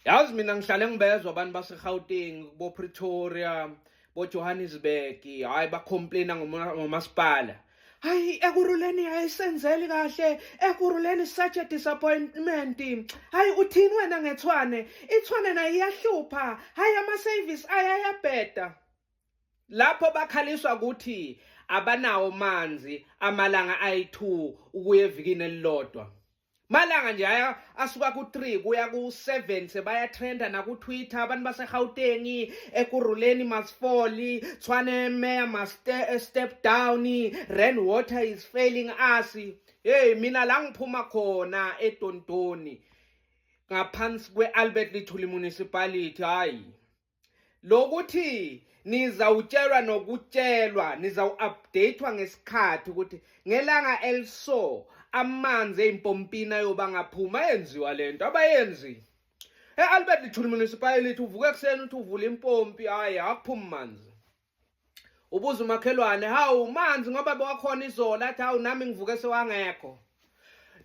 yazi mina ngihlale ngibezwa abantu basegauteng bopretoria bojohannesburg hhayi bacomplaina ngomasipala hayi ekuruleni ayisenzeli kahle ekuruleni such a disappointment hayi uthini wena ngethwane ithwane nayo iyahlupha hayi ama-service ayayabheda lapho bakhaliswa ukuthi abanawo manzi amalanga ayi-2 ukuya evikini elilodwa malanga nje aya asuka ku-3 kuya ku-7 sebayatrenda nakutwitter abantu basegauteng ekuruleni masifoli tshwane meya mastep eh, down ran water is failing us heyi mina la ngiphuma khona edondoni ngaphansi kwe-albert lithuli municipality hhayi lokuthi nizawutshelwa nokutshelwa nizawu-updatwa ngesikhathi ukuthi ngelanga eliso amanzi eyimpompini ayoba ngaphuma yenziwa le nto abayenzi e-albert lithuli municipality uvuka ekuseni uthi uvula impompi hhayi akuphumi manzi ubuza umakhelwane hawu manzi ngoba bewakhona izola athi hawu nami ngivuke sewangekho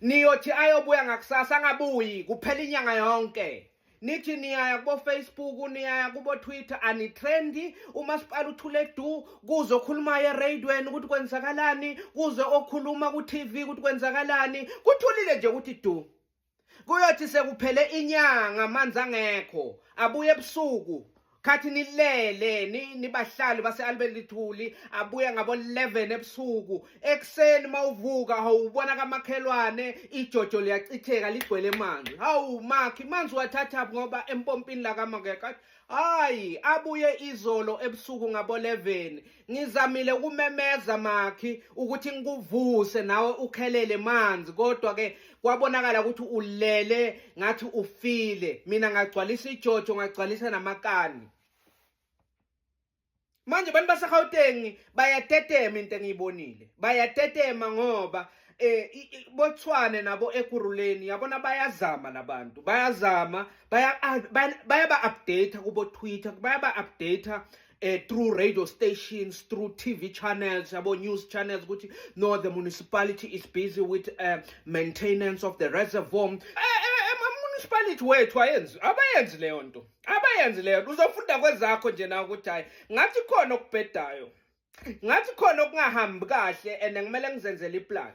niyothi ayobuya ngakusasa angabuyi kuphela inyanga yonke nithi niyaya kubofacebook niyaya kubotwitter anitrendi umasipala uthule du kuze okhulumayo eradweni ukuthi kwenzakalani kuze okhuluma ku-tv ukuthi kwenzakalani kuthulile nje ukuthi du kuyothi sekuphele inyanga amanzi angekho abuye ebusuku khathi nilele nibahlali base-albelithuli abuye ngabo-11 ebusuku ekuseni uma uvuka hawubona kamakhelwane ijojo liyachitheka ligcwele manzi hawu makhi manzi wathathaphi ngoba empompini lakamakekho Hayi, abuye izolo ebusuku ngabo 11. Ngizamile ukumemeza Makhi ukuthi ngikuvuse nawe ukhelele manzi kodwa ke kwabonakala ukuthi ulele ngathi ufile. Mina ngagcwalisa ijojo ngagcwalisa namakani. manje abantu baseGauteng bayatetema into engiyibonile bayatetema ngoba eh bothwane nabo ekuruleni yabona bayazama labantu bayazama baya bayaba update kubo Twitter bayaba update eh through radio stations through TV channels yabo news channels ukuthi no the municipality is busy with uh, maintenance of the reservoir eh, eh, eh municipality wethu ayenzi abayenzi leyo nto abayenzileyo uzofunda kwezakho nje na ukuthi hayi ngathi khona okubhedayo ngathi khona okungahambi kahle and ngimele ngizenzele iplan